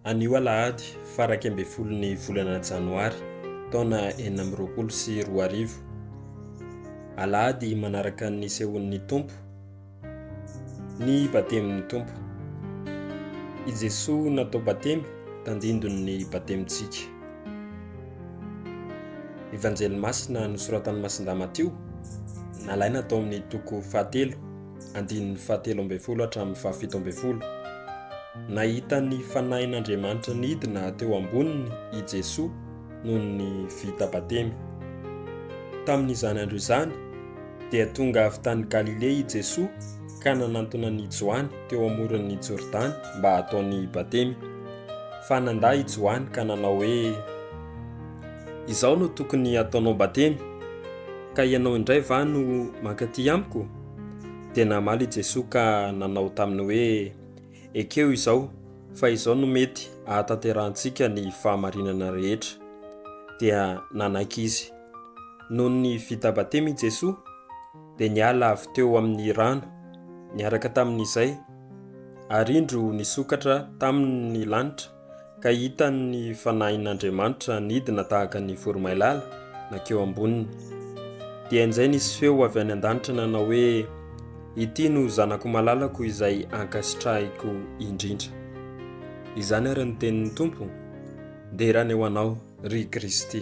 Anio alahady fara iraika ambin'ny folo ny volana janoary taona enina amby roapolo sy roa arivo. Alahady manaraka ny sehoan'ny Tompo, ny batemin'ny Tompo. I Jesoa natao batemy tandindon'ny batemintsika. Evanjely masina nosoratan'i Masindahy Matio, nalaina tao amin'ny toko fahatelo, andininy fahatelo ambin'ny folo hatramin'ny fahafito ambin'ny folo. Nahita ny Fanahin'Andriamanitra nidina teo amboniny i Jesoa noho ny vita batemy. Tamin'izany andro izany, dia tonga avy tany Galilea i Jesoa ka nanantona an'i Joany teo amoron'ny Jordany mba hataony batemy. Fa nandà i Joany ka nanao hoe, Izao no tokony hataonao batemy, ka ianao indray va no mankaty amiko? Dia namaly i Jesoa ka nanao taminy hoe, Ekeo izao, fa izao no mety ahatanterahantsika ny fahamarinana rehetra. Dia nanaiky izy. Nony vita batemy i Jesoa, dia niala avy teo amin'ny rano, niaraka tamin'izay, ary indro nisokatra taminy ny lanitra, ka hitany ny Fanahin'Andriamanitra nidina tahaka ny voromailala nankeo amboniny. Dia injay nisy feo avy any an-danitra nanao hoe, Ity no Zanako malalako izay ankasitrahiko indrindra. Izany ary ny tenin'ny Tompo, Dera ny ho anao. ry Kristy.